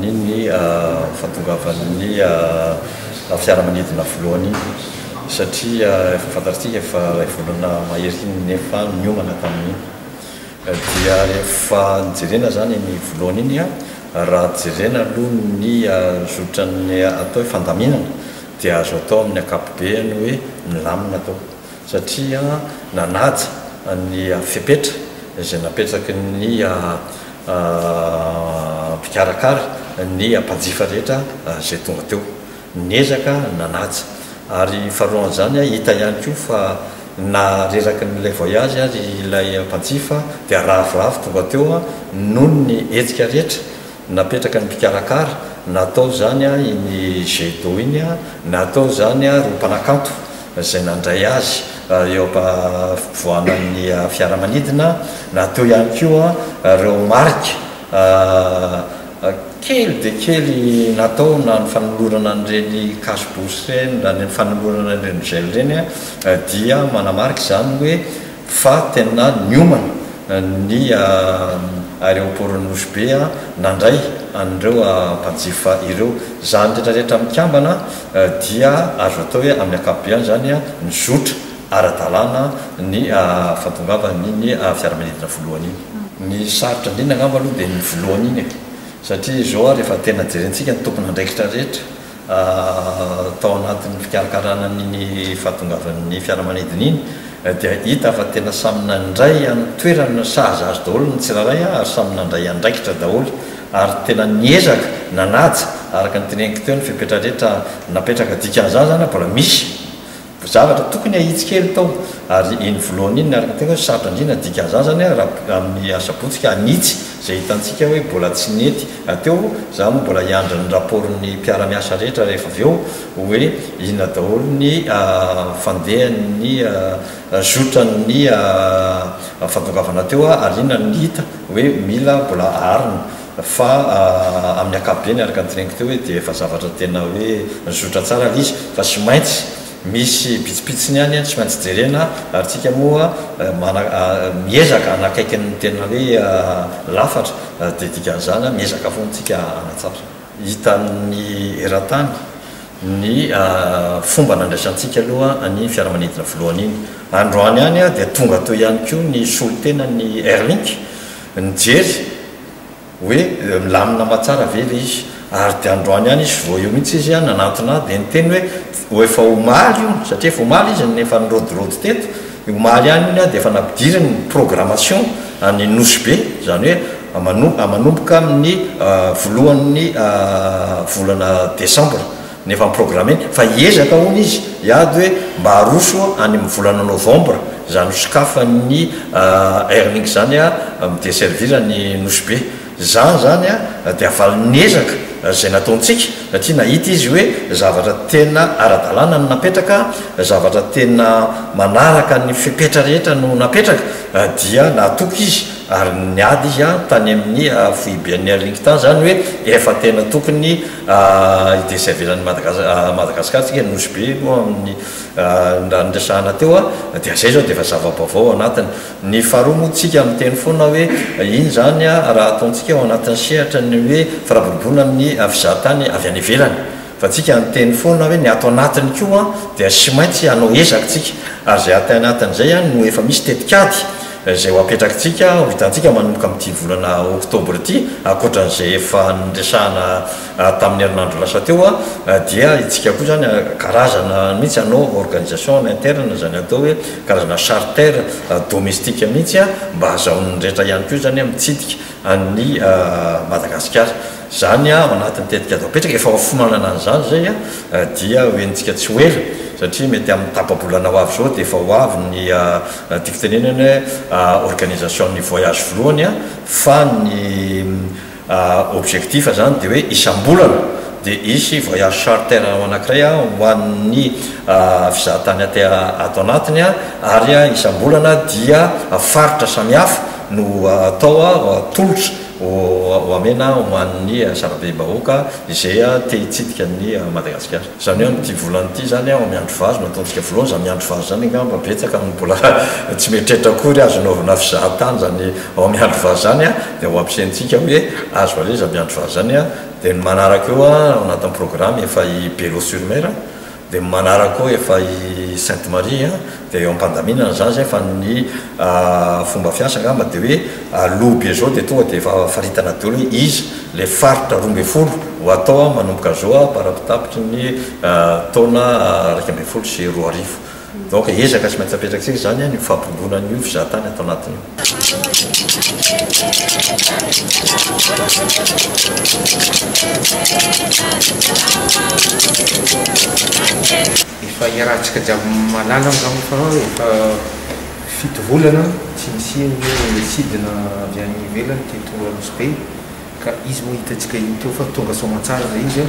ny ny fahatongavan'ny fiaramanidina voalohany iny satria efa fantatsika fa ilay volana mahery iny nefa niomana tamin'iny dia rehefa nijerena zany ny voalohany iny a raha jerena aloha ny zotran'ny atao hoe fandaminana dia azo atao amin'ny ankapobeny hoe milamina atao satria nanaja ny fepetra izay napetraky ny mpikarakara ny mpanjifa rehetra izay tonga teo. Niezaka nanaja. Ary faharoan'izany, hita ihany koa fa na reraky ny ilay voyage aza ilay mpanjifa dia ravoravo tonga teo noho ny hetsika rehetra napetraky ny mpikarakara, na atao izany iny jet d'eau iny, na atao izany ireo mpanakanto. izay nandray azy eo am-povoanan'ny fiaramanidina na teo ihany koa ireo marika kely dia kely natao na ny fanolorana an'ireny cash bourse ireny na ny fanolorana an'ireny gel ireny dia manamarika izany hoe fa tena niomana ny aeroportn'i Nosy Be nandray an'ireo mpanjifa ireo. Izany rehetra rehetra mikambana dia azo atao hoe amin'ny ankapobeany izany nizotra ara-dalàna ny fantongavan'iny fiaramanidina voalohany iny. Ny sarotra indrindra angamba aloha dia iny voalohany iny e, satria izao ary efa tena jerentsika ny tompon'andraikitra rehetra, Tao anatin'ny fikarakarana an'iny fahatongavan'ny fiaramanidina iny dia hita fa tena samy nandray an'ny toerany no sahaza azy daholo ny tsirairay ary samy nandray andraikitra daholo ary tena niezaka nanaja araka ny teneniko teo ny fepetra rehetra napetraka dikan'izany izany mbola misy Zavatra tokony ahitsy kely tao ary iny volohany iny niaraka teo hoe sarotra indrindra ny dikazazany a raha amin'ny asabotsy ka hanitsy izay hitantsika hoe mbola tsy nety hateo za moa mbola hiandry ny rapport ny mpiara-miasa rehetra rehefa avy eo hoe inona daholo ny fandehan'ny zotran'ny fandongavana teo ary inona no hita hoe mila mbola aharina Fa amin'ny ankapobeny, araka ny teneniko teo hoe dia efa zavatra tena hoe nizotra tsara ilay izy, fa tsy maintsy misy pitsipitsiny ihany tsy maintsy jerena ary tsika moa mana miezaka hanakaiky ny tena hoe lafatra dia dikan'izany miezaka foana tsika hanatsara. Hitan'ny eran-tany ny fomba nandraisantsika aloha ny fiaramanidina voalohany iny. Androany ihany dia tonga teo ihany koa ny solontenan'ny Airlink nijery, hoe milamina aman-tsara ve ilay izy ary dia androany ihany izy vao eo mihitsy izy nanantona ahy dia niteny hoe ho efa omaly io satria efa omaly izy no efa nirodorodo teto, omaly ihany iny aho dia efa nampidiriny ny programmation any Nosy Be izany hoe mano- manomboka amin'ny voalohan'ny volana desambra. ny efa programmer fa hiezaka hono izy hiady hoe mba aroso any amin'ny volana novembre izany ho sokafan'ny airlink izany mi-desservir an'i Nosy Be za izany dia valin'ny ezaka izay nataontsika satria nahita izy hoe zavatra tena ara-dalàna no napetraka zavatra tena manaraka ny fepetra rehetra no napetraka dia nahatoky izy ary niady izy tany amin'ny foiben'ny airlink tany izany hoe efa tena tokony Ity tsy avelan'ny Madagasikara tsika ny Nosy Be moa amin'ny raha niresahana teo dia zay zao dia efa zava-baovao ao anatiny. Ny faharoa moa tsika miteny foana hoe iny zany raha ataontsika ao anatin'ny sehatra ny hoe firaboroboana amin'ny fizahatany avy any ivelany fa tsika miteny foana hoe ny ato anatiny koa dia sy maintsy hanao ezaka tsika ary zay aty anatiny zay no efa misy tetikady izay ho apetrakitsika ho hitantsika manomboka amin'ity volana oktobra ity, ankoatran'izay efa niresahana tamin'ny herinandro lasa teo, dia itsika koa izany karazana mihitsy hanao organisation en interne, izany atao hoe karazana charter domestique mihitsy mba hahazahoan'ny rehetra ihany koa izany mitsidika an'i Madagasikara. Izany ao anatin'ny tetikady apetraka, efa ho fimanana an'izany izay dia ho henontsika tsy ho ela satria mety amin'ny tapa-bolana ho avy izao dia efa ho avy ny Tiako tenenana hoe organisation ny voyage voalohany fa ny objectif zany dia hoe isam-bolana dia hisy voyage charter anankiray ho an'ny fizahan-tany aty ato anatiny ary isam-bolana dia faritra samihafa no atao tolotra ho amena ho an'ny sarabe-bahoaka izay te hitsidika an'i Madagasikara. Izany hoe amin'ity volana ity izany aho miandry vazo no ataontsika voalohany, izany miandry vazo izany angamba betsaka no mbola tsy mieritreritra akory azo anaovana fizahantany izany ao miandry vazo izany an, dia ho ampiasaintsika hoe azo alaiza miandry vazo izany an, dia ny manaraka eo an ao anatin'ny programme efa i Bello sur mer an, dia ny manaraka eo efa i Sainte Marie an, Dia eo am-pandaminana izany izay fa ny fomba fiasa angamba dia hoe aloha be izao dia tonga dia efa faritana daholo hoe iza ilay faritra roa ambin'ny folo ho atao manomboka izao am-parapitapitry ny taona iraika ambin'ny folo sy roa arivo. Donc ezaka tsy maintsy apetrakantsika izany ny fampirobona an'io fizahan-tany ato anatiny io. Efa iarahantsika jiaby mahalala aho zao fa efa fito volana tsy nisian'ny hoe sidina avy any ivelany teto Anosibe ka izy moa hitantsika iny teo fa tonga soamantsara zay izy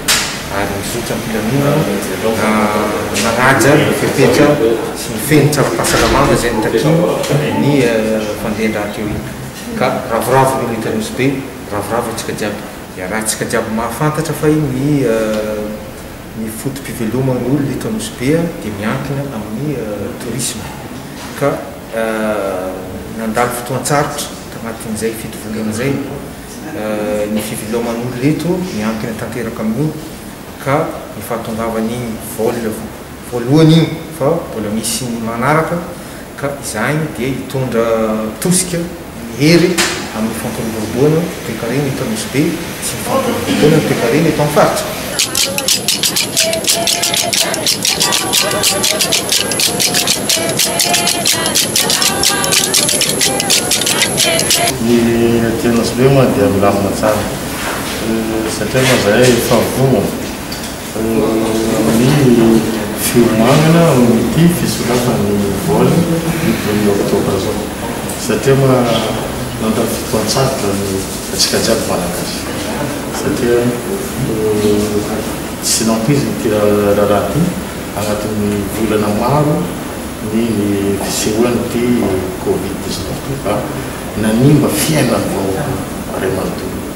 ary nizotra am-pilaminana na nanaja ny fepetra sy ny fehiny tsaropahasalamana izay notakiany ny fandehan-draha teo iny ka ravoravo ny olo eto Anosibe ravoravo antsika jiaby iarahantsika jiaby mahafantatra fa ny Ny foto-piveloman'ny olona eto Anosibe dia miankina amin'ny tourisme ka nandalo fotoan-tsarotra tanatin'izay fito volana izay ny fiveloman'olona eto, miankina tanteraka amin'io ka ny fahatongavan'iny vol voalohany iny fa mbola misy ny manaraka. ka izany dia hitondra tosika ny hery amin'ny fampiroboroboana ny toekarena eto Nosy Be sy ny fampiroboroboana ny toekarena eto amin'ny faritra. Ny aty Anosibe moa dia milamina tsara satria moa izahay fahagola. amin'ny fiomanana amin'ity fisoratan'ny vol ny volana oktobra izao satria ma nandany fotoan-tsarotra ny antsika jiaby Malagasy satria tsy nampoizina ity raharaha ity anatin'ny volana maro ny fisehoan'ity covid dix-neuf ity fa nanimba fiainan'ny vahoaka iray manontolo.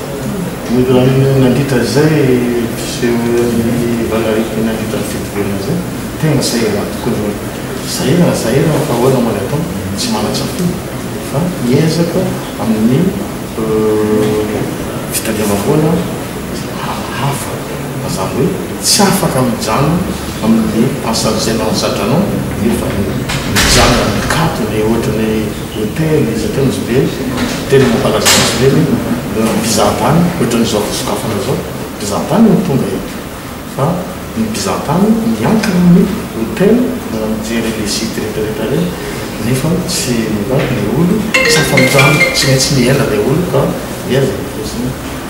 Nandritra izay mpiseho ny valanaretina nandritra ny fety velona izay, tegna sahirana tokoa ny hoe sahirana sahirana fa ahoana moa ny atao tsy manan-tsafidy fa miezaka amin'ny fitadiavam-bola hafa fa zany hoe tsy afaka mijanona amin'ny asan'izay mahazatra anao nefa mijanona mikatona ohatra ny hoe Noteny izy teo izy be teny mampalazà izy ireny hoe ny mpizahantany ohatran'izao fisokafana izao mpizahantany no tonga eto fa ny mpizahantany miankina ny hotel na mijery le site retraretra reny nefa tsy mba le olo tsy afa-mijanona tsy maintsy miaina le olo ka mihaza ny posiny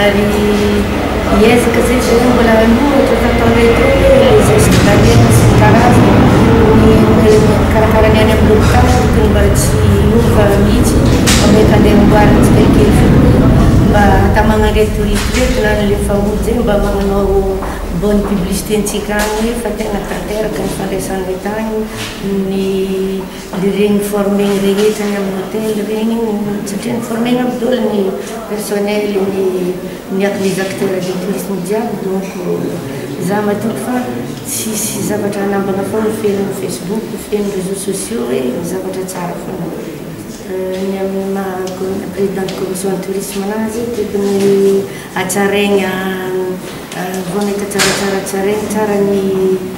Ary hiezaka izay tsy ho mbola hanoa ohatra fanao retro hoe les gestes d'hyène sy ny karazany ny olona mikarakara ny any amin'ny hopitaly tokony mba tsy hiova mihitsy fa mety handeha amboarina tsikelikely foana mba hatamana an'ireto touristes ireto na ny efa ody izay mba manao bonne publicité antsika any fa tena tanteraka ny fandraisana entana ny Dia reny mi-former-ny rehetra any amin'ny hôtel reny satria mi-former-na ry dolo ny personnel ny miato les acteurs de tourisme jiaby donc za matoky fa tsisy zavatra hanambana fa ho feno facebook ho feno réseaux sociaux hoe zavatra tsara foana ny amin'ny maha présidente commission tourisme anazy tokony hatsaraigna vao nahita tsaratsara hatsaraigna tsara ny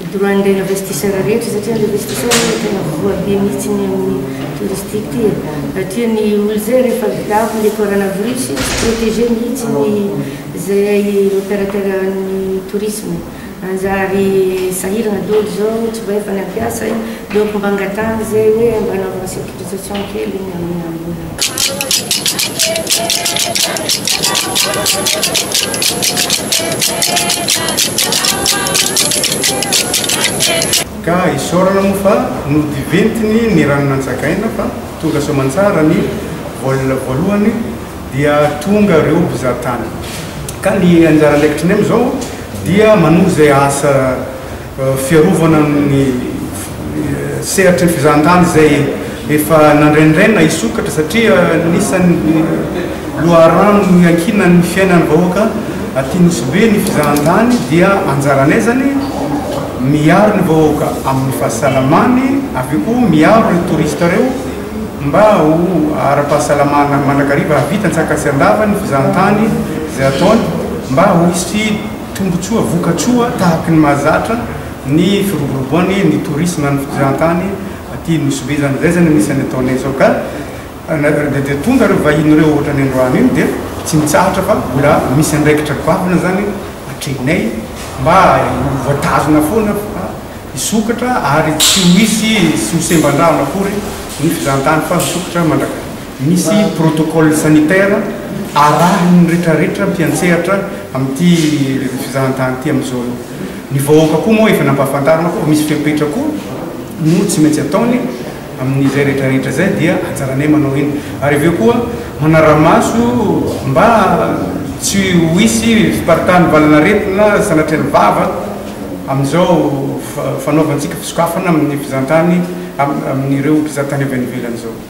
ny droit n'ilay investisseur rehetra satria ny investisseur no tena voa be mihitsy ny amin'ny touristique ity e! raha tia ny olona izay rehefa vidako ilay coronavirus tsy protégé mihitsy ny izay opérateur an'ny tourisme manjary sahirana daholo izao tsy mba efa nampiasa e! aleoko mba angatahana izay hoe mba anaovana sécurisation kely ny amin'ny mbola Ka isaorana moa fa nodiventiny ny rano nantsagaina fa tonga soa aman-tsara ny vol voalohany dia tonga ireo mpizahatany. Ka ny anjara andraikitry ny amin'izao dia manohy izay asa Fiarovana ny sehatry ny fizahantany izay efa nandrenirena hisokatra satria anisan'ny loharano iankinan'ny fiainan'ny vahoaka aty Nosy-Be ny fizahantany dia anjaranay izany miaro ny vahoaka amin'ny fahasalamany avy eo koa miaro ireo touristes ireo mba ho ara-pahasalamana mandrakariva hahavita an-tsaka sy an-dava ny fizahantany izay ataony mba ho hisy Tombontsoa vokatsoa tahaky ny mahazatra ny firoboroboany ny tourisme ny fitrizantany aty Nosy be zany zay zany anisany ataonay zao ka de tonga reo vahiny reo ohatrany androany iny de tsy mitsahatra fa mbola misy andraikitra goavana zany atrehinay mba ho voatazona foana fa hisokatra ary tsy ho hisy sy ho semban-drano akory ny fitrizantany fa hisokatra mandrakariva. Misy protocole sanitaire arahin'ny retraretra mpiantsehatra amin'ity fizahantany ity amin'izao aloha. Ny vahoaka koa moa efa nampahafantarina koa fa misy fepetra koa no tsy maintsy ataony amin'izay retraretra izay dia anjaranay manao iny. Ary avy eo koa manara-maso mba tsy ho hisy fiparitahan'ny valin'aretina sanatria ny vava amin'izao fanaovantsika fisokafana amin'ny fizahantany amin'ireo mpizahatany avy any ivelany izao.